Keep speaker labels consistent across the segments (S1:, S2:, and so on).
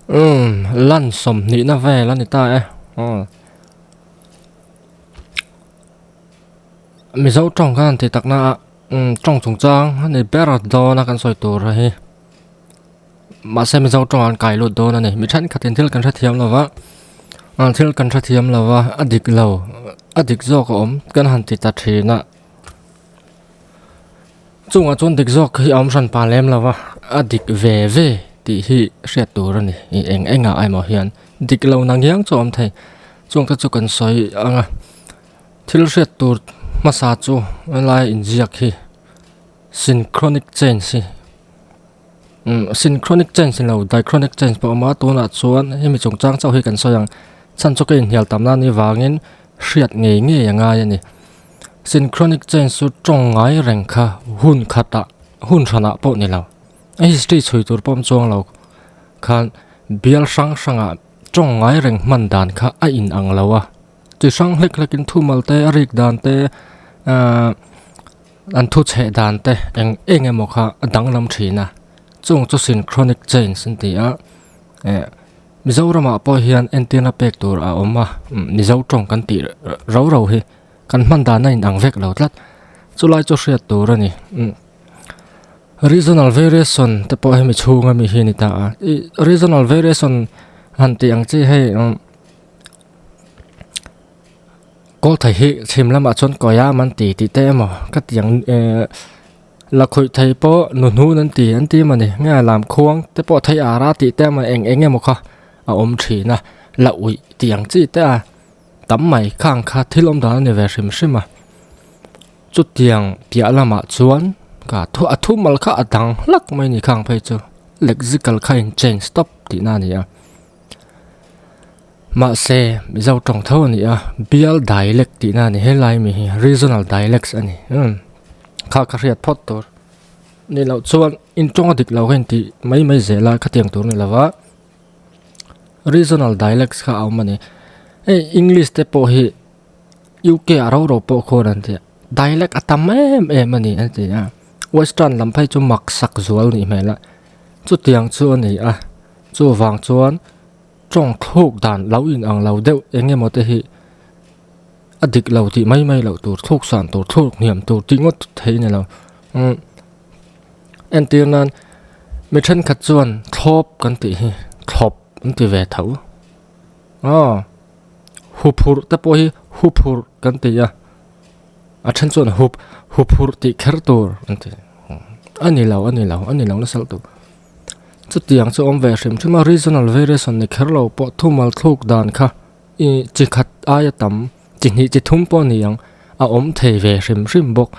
S1: Umm, lan sawm hnihna vel a ni ta e. Umm. Mizo tawng khan an tih takna a, umm, tawng chungchang a ni ber dawn a kan sawi tur a hi. Mahse Mizo tawng an kai lut dawn a ni. Mi thenkhatin thil kan hrethiam lo va, umm, thil kan hrethiam lo va, a dik lo, a dik zawk a awm kan han ti ta thin a. Chungah chuan dik zawk hi a awm hran pah lem lo va, a dik ve ve tih hi hriat tur a ni. I eng engah emaw hian dik lo na ngiang chu a awm thei. Chungte chu kan sawi ang a, thil hriat tur hmasa chu helaia inziak hi synchronic change hi Synchronic change lo diachronic change pawh a awm a, tunah chuan hemi chung chang chauh hi kan sawi ang, chhan chauke inhnial tam nan hi vangin hriat ngei ngei a ngai a ni. Synchronic change chu tawng ngai reng kha hun khatah, hun hranah pawh ni lo, a history chhui tur pawh awm chuang lo khan bial hrang hrangah tawng ngai reng hman dan kha a in ang lo a, chi hrang hlek hlekin thumal te a rik dan te, An thuchheh dante eng eng emaw kha a danglam thin a, chung chu synchronic chains an ti a. Eh, Mizoramah pawh hian entirna pek tur a awm a, Mizo tawng kan tih rau rau hi kan hman dan a inang vek lo tlat. Chulai chu hriat tur a ni. Regional variation te pawh hemi chhunga mi hi a ni ta a. I regional variation han tih ang chi hei, Kawl thei hi chhim lamah chuan kawia man ti tih te emaw ka tiang eh la khawih thei pawh nuhnu an ti an ti mawni nge lam khuang te pawh thei a ra tih te emaw eng eng emaw kha a awm thin a la uih tih ang chi te a tam mai kha ang kha thil awm dan a ni ve hrim hrim a chutiang piah lamah chuan ka thu a thu mal kha a dang hlak mai ni kha ang phei chu lexical kha a in change stawp tihna a ni a. Mahse, Mizo tawng tho a ni a, bial dialect tihna a ni. He Laimi hi regional dialects a ni. Kha ka hriat phawt tur nih loh chuan in tawnga dik lo ka intih mai mai zel a, khatiang tur nih lova, regional dialects kha a awm a ni. Hei English te pawh hi UK ah roro pawh khawn an ti a, dialect a tam em em a ni an ti a. Western lam phei chu maksak zual a nih hmel a, chutiang chu a ni a. Chuvang chuan Tawng thluk dan lo in ang lo deuh eng emaw te hi a dik lo tih mai mai loh tur thluk san tur thluk hniam tur tih ngawt theih nilo umm entir nan mi thenkhat chuan thlawp kan tih hi thlawp an ti ve tho aw huphurh te pawh hi huphurh kan ti a a then chuan hup huphurh tih kher tur an ti a ni lo a ni lo a ni lo nasal tur. Chutiang chu awm ve hrim hrim a, regional variation ni kher lo pawh thu malthluk dan kha i chi khat aia tam, chi hnih chi thum pawh ni ang a awm thei ve hrim hrim bawk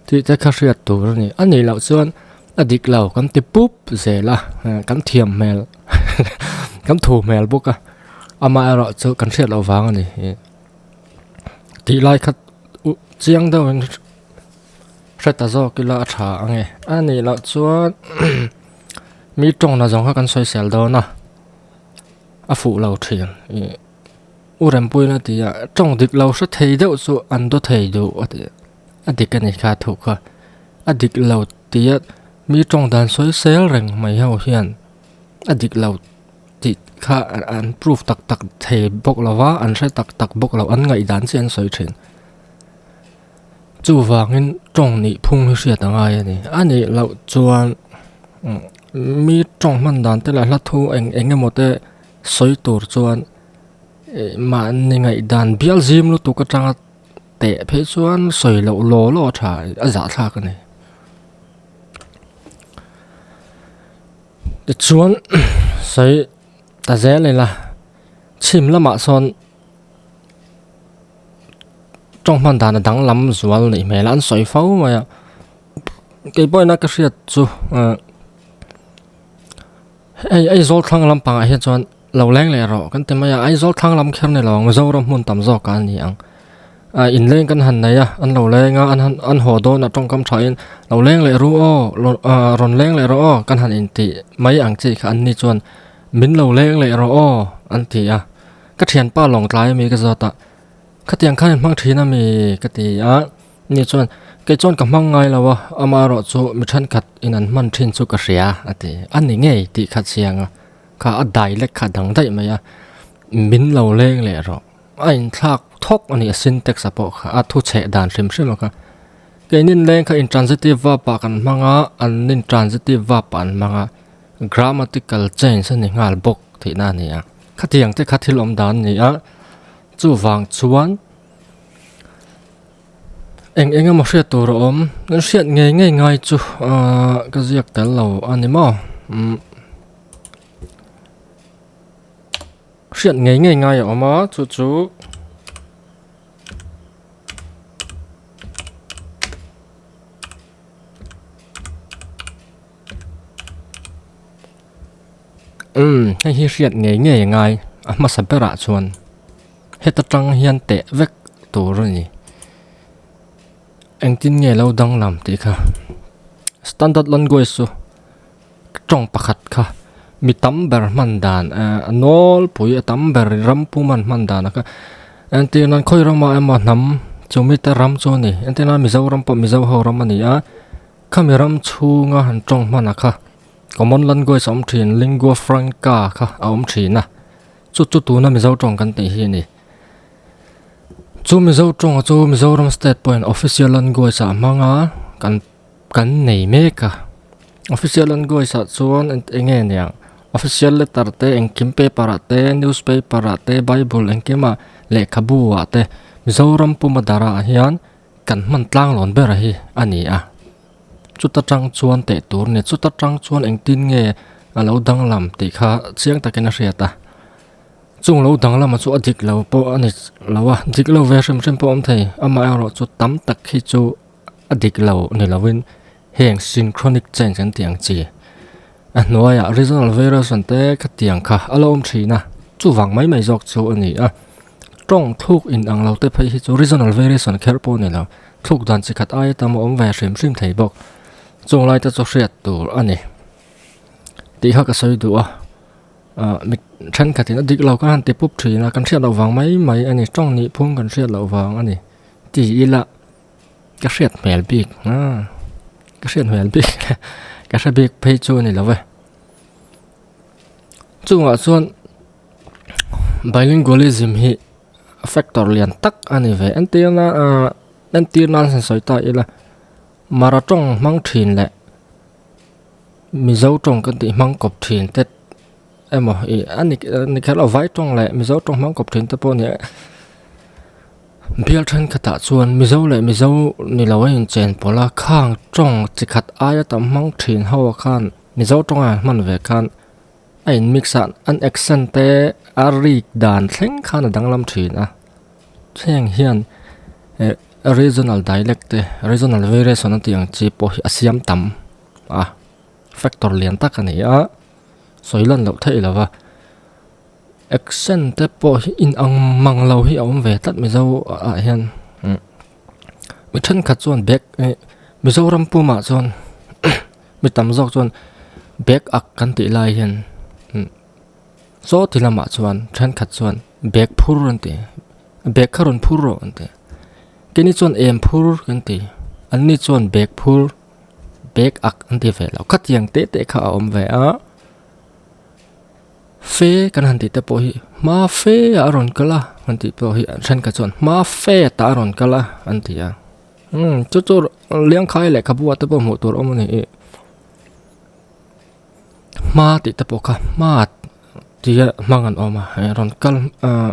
S1: tih te kha hriat tur a ni. A nih loh chuan a dik lo kan ti pup zel a, kan thiam hmel kan thu hmel bawk a, amah erawh chu kan hriat loh vang a ni. Tih lai kha chiang deuhin. Hre ta zawk ila a tha ange. A nih loh chuan mi tawngna zawng kha kan sawisel dawn a, a fuh lo thin. U Rempuiin a ti a, tawng dik lo hre thei deuh chu an daw thei duh a ti. A dik a ni kha thu kha. A dik lo tia mi tawng dan sawisel reng mai ho hian a dik lo tih kha an prove tak tak thei bawk lo va, an hre tak tak bawk lo, an ngaihdan chian an sawi thin. Chuvangin tawng nih phung hi hriat a ngai a ni. A nih loh chuan mi tawng hman dan te leh hlathu eng eng emaw te sawi tur chuan mah ni ngaihdan bial zim lutuk atanga teh phei chuan sawi loh law law a tha a zahthlak a ni. Tichuan sawi ta zel ila chhim lamah sawn. tawng hman dan a danglam zual neih hmel a an sawi fo mai a kei pawh in a ka hriat chu ah hei Aizawl thlanglam pangah hian chuan lo leng leh rawh kan ti mai a Aizawl thlanglam kher ni lo ang Zoram hmun tam zawkah a ni ang ah inleng kan han nei a an lo leng a an han an haw dawn a tawngkam tha in lo leng leh ru aw ah rawn leng leh rawh aw kan han intih mai ang chi kha anni chuan min lo leng leh rawh aw an ti a. Ka thianpa lawngtlai a mi ka zat a, khatiang khan in hmang thin a mi? ka ti a. Ni chuan, Kei chuan ka hmang ngai lo a, ama erawh chu mi thenkhat in an hman thin chu ka hria a ti. A ni ngei tih kha chiang a, kha a dialect kha a dang daih mai a, min lo leng leh rawh. A inthlak thawk a ni a syntax a pawh kha, a thucheh dan hrim hrim a kha. Kei inleng kha intransitive verb a kan hmang a, an intransitive verb a an hmang a, grammatical change a ni nghal bawk tihna a ni a. Khatiang te kha thil awm dan ni a, chuvang chuan eng eng emaw hriat tur a awm, kan hriat ngei ngei ngai chu ka ziak tel lo a ni maw? Hriat ngei ngei ngai a awm a, chu chu Umm, hei hi hriat ngei ngei a ngai, a hmasa berah chuan heta tang hian teh vek tur a ni. Engtin nge lo danglam tih kha, standard language chu tawng pakhat kha mi tam ber hman dan ehh a nawlpui a tam ber ram puma an hman dan a kha entirna khawi rama emaw hnam chumi te ram chu a ni entirna Mizoram pawh Mizo ho ram a ni a. Khami ram chhunga han tawng hmanah kha common language a awm thin, lingua franca kha a awm thin a, chu chu tuna Mizo tawng kan tih hi a ni. Chu Mizo tawng a chu Mizoram state pawhin official language ah hmanga kan kan nei mek a. Official language ah chuan eng nge niang official letter te engkim paper ah te, newspaper ah te, bible engkimah lehkhabu ah te Mizoram puma darah hian, Kan hman tlanglawn ber a hi a ni a, chuta tang chuan teh tur nge, chuta tang chuan engtin nge a lo danglam tih kha chiang takin a hriat a. Chung lo danglam a chu a dik lo pawh a ni lo a, dik lo ve hrim hrim pawh a awm thei, amaherawhchu tam tak khi chu a dik lo ni lovin, Heng synchronic change kan tih ang chi. A hnuaiah regional variation te khatiang kha a la awm thin a, chuvang mai mai zawk chu a ni a. Tawng thluk in ang lo te phei hi chu regional variation kher pawh a ni lo, thluk dan chi khat aia tam a awm ve hrim hrim thei bawk. Chung lai te chu hriat tur a ni tih kha ka sawi duh a. Ahh mi thenkhat in a dik lo kha han ti pup thin a, kan hriat loh vang mai mai a ni, tawng nih phung kan hriat loh vang a ni tih ila. Ka hriat hmel bik nga, ka hriat hmel bik nga, ka hre bik phei chu a ni lo e. Chungah chuan bilingualism hi factor lian tak a ni ve. Entirna ah, entirna an han sawi ta ila, Mara tawng hmang thin leh Mizo tawng kan tih hmang kawp thin te, Emaw i a ni ni kher lo vai tawng leh mizo tawng hmang kawp thin te pawh nia bial thenkhatah chuan mizo leh mizo ni lo a inchen pawlh a khang tawng chi khat aia tam hmang thin ho khan mizo tawnga an hman ve khan a in mix a an accent te a rik dan thleng khan a danglam thin a heng hian eh regional dialect te regional variation a tih ang chi pawh hi a siam tam a factor lian tak a ni a. sawi lan loh theih lo va, action te pawh hi in ang mang lo hi a awm ve tlat mizo ah hian umm mi thenkhat chuan bag eh Mizoram pumah chuan mi tam zawk chuan bag ak kan tih lai hian umm saw ti lamah chuan thenkhat chuan bag phur an ti bag kha rawn phur rawh an ti kei ni chuan em phur kan ti an ni chuan bag phur. bag ak an ti ve lo kha tiang teh teh kha a awm ve a fe kan han tih te pawh hi hma fe ah a rawn kal a kan tih pawh hi thenkhat chuan hma fet ah a rawn kal a an ti a umm chu chu liankhai lehkhabu ah te pawh hmuh tur a awm a ni e hma tih te pawh kha hmat tia hmang an awm a i rawn kal ah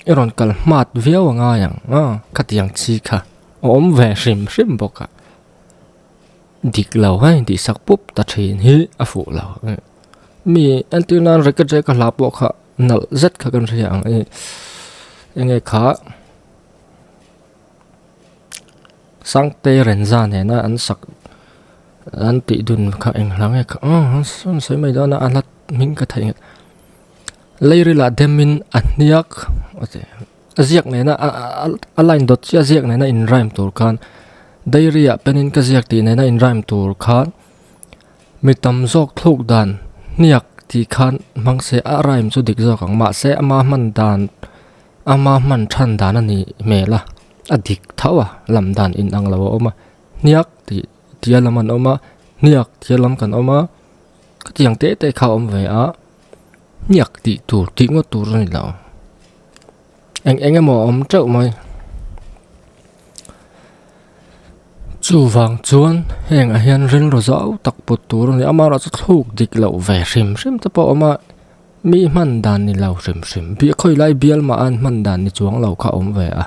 S1: i rawn kal hmat viau a ngai ang a khatiang chi kha a awm ve hrim hrim bawk a. dik lo a intih sak pup ta thin hi a fuh lo mi entir nan racket reh ka hla pawh kha nalh zet kha kan hria ang ih enge kha sangte renza nena an sak an tih dun kha eng hlang e kha hun sawi mai dana a hla hming ka theih nghet lairila dem in a hniak a che. A ziak nena a line dawt chiah ziak nena in rhyme tur khan diary ah pen in ka ziak tih nena in rhyme tur khan mi tam zawk thluk dan hniak tih khan hmang se a rhyme chu dik zawk ang mahse ama hman dan ama hman than dan a nih hmel a a dik thauh a lam dan in ang lo a awm a hniak tih tia lam an awm a hniak tia lam kan awm a khatiang teh teh kha a awm ve a. Hniak tih tur, tih ngawt tur a ni lo. Eng eng emaw a awm teuh mai. Chuvang chuan hengah hian rilru zau tak put tur a ni a. Amarawh chu thluk dik loh ve hrim hrim te pawh a awm a, mi hman dan ni lo hrim hrim. Bia khawi lai bial mah an hman dan ni chuang lo kha a awm ve a.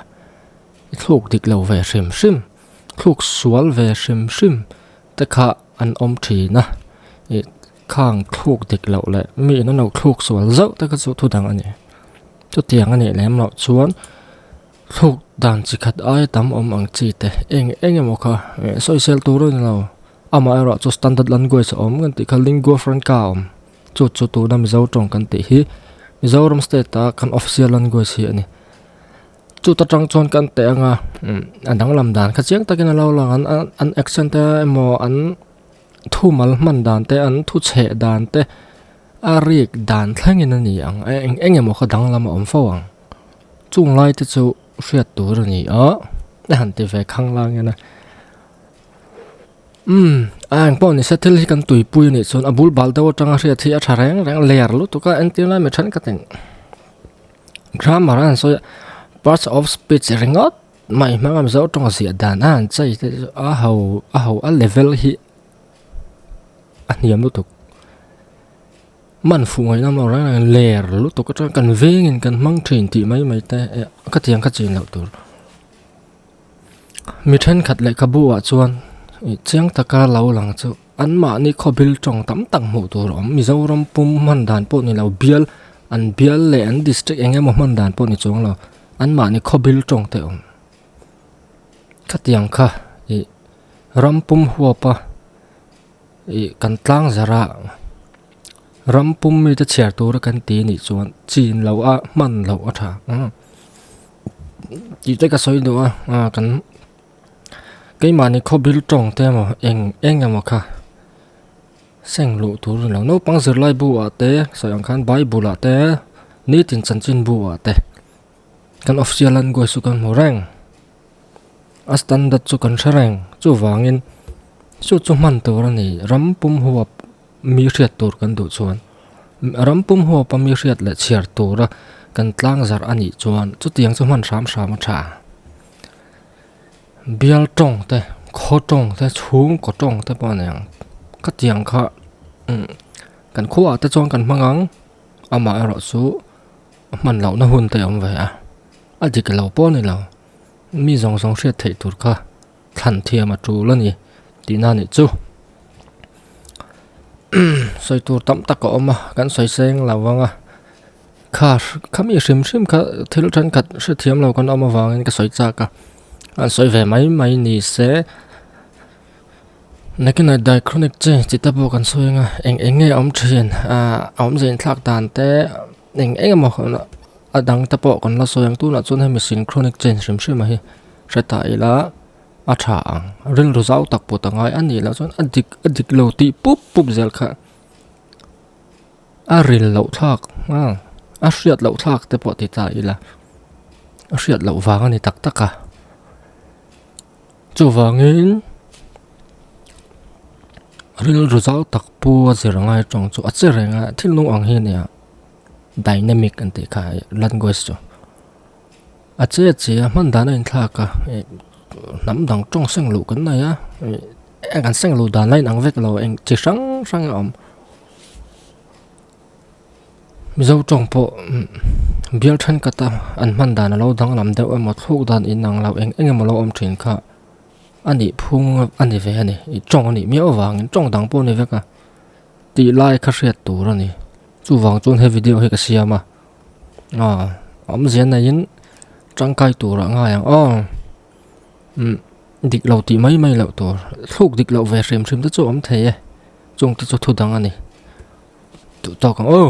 S1: I thluk dik lo ve hrim hrim, thluk sual ve hrim hrim te kha an awm thin a. Khang thluk dik loh leh mi in a no thluk sual zauh te kha chu thu dang a ni. Chutiang a nih lem loh chuan thluk dan chi khat aia tam awm ang chi te eng eng emaw kha eh sawi sel tur a ni lo. Amah erawh chu standard language a awm kan tih kha lingua franca a awm. Chu chu tuna Mizo tawng kan tih hi Mizoram state a kan official language hi a ni. Chuta tang chuan kan teh anga umm a danglam dan kha chiang takin a lo lang an an accent te emaw an-- Thumal hman dan te, an thuchheh dan te a riek dan thlengin a ni ang. Eng emaw kha danglam a awm fo ang. Chung lai te chu hriat tur a ni a, a han ti ve khang lâng in a. Umm, a eng pawh ni se, thil hi kan tuipui a nih chuan a bul bal deuh atang a hriat hi a tha reng reng, layer lutuk a, engtin lai mi thenkhat in grammar a han sawi a, parts of speech ringawt. Mai hmangam zo tawng ziah dan a an chei te chu a ho a ho a level hi a hniam lutuk man fuh ngaih lamah rawn lang in ler lutuk atang kan vengin kan hmang thin tih mai mai te eh ka tiang ka chin loh tur mi thenkhat lehkhabu ah chuan chiang taka lo lang chu-- An mahni khawbel tawng tam tak hmuh tur a awm. Mizoram pum hman dan pawh ni lo, bial an bial leh an district eng emaw hman dan pawh ni chuang lo, an mahni khawbel tawng te a awm. Khatiang kha ih ram pum huapa ih kan tlang zarh a, ram pum mite chhiar tura kan ti nih chuan chin loh a, hman loh a tha. Tih te ka sawi duh a, kan-- Keimahni khawbir tawng te emaw eng eng emaw kha seng luh tur a ni lo. Naupang zirlai bu ah te sawi ang khan bible ah te nitin chanchin bu ah te kan officia language chu kan hmu reng a standard chu kan hre reng chuvang in sawi chu hman tur a ni ram pum huap mi hriat tur kan duh chuan ram pum huap a mi hriat leh chhiar tura kan tlang zarh a nih chuan chutiang chu hman hram hram a tha. bial tawng te khaw tawng te chhung kaw tawng te pawh a nei ang khatiang kha umm kan khuaah te chuan kan hmang ang amah erawh chu a hman loh na hun te awm ve a a dik lo pawh a ni lo mi zawng zawng hriat theih tur kha thlan thiam a tul a ni tih na nih chu umm sawi tur tam tak a awm a kan sawi seng lo ang a. Kha khami hrim hrim kha thil thenkhat hrethiam lo kan awm avangin ka sawi chak a, an sawi ve mai mai ni se. Nicanite diachronic che chi te pawh kan sawi anga eng eng nge a awm thin ah a awmze in thlak dan te eng eng emaw a dang te pawh kan la sawi ang tunah chuan hemi synchronic che hrim hrima hi hre ta ila a tha ang rilru zau tak put a ngai a nih loh chuan a dik a dik lo tih pup pup zel kha. A ril loh thlak nghal, a hriat loh thlak te pawh ti ta ila, a hriat loh vang a ni tak tak a. Chuvangin rilru zau tak pu a zir ngai tawng chu a che reng a, thil hnung ang hi a ni a, dynamic an tih kha hei language chu. A che a che a, hman dan a inthlak a, eng hnam dang tawng seng loh kan nei a, eng an seng loh dan lai in ang vek lo, eng chi hrang hrang a awm. Mizo tawng pawh bial thenkata an hman dan a lo danglam deuh emaw thluk dan inang lo eng eng emaw lo awm thin kha a nih phung a ni ve a ni i tawng a nih miau avangin tawng dang pawh a ni vek a tih lai kha hriat tur a ni chuvang chuan he video hi ka siam a a awmzia neiin tangkai turah ngai ang aw. Dik lo tih mai mai loh tur, thluk dik loh ve hrim hrim te chu a awm thei e. Chung te chu thu dang a ni. Duhtawk ang aw!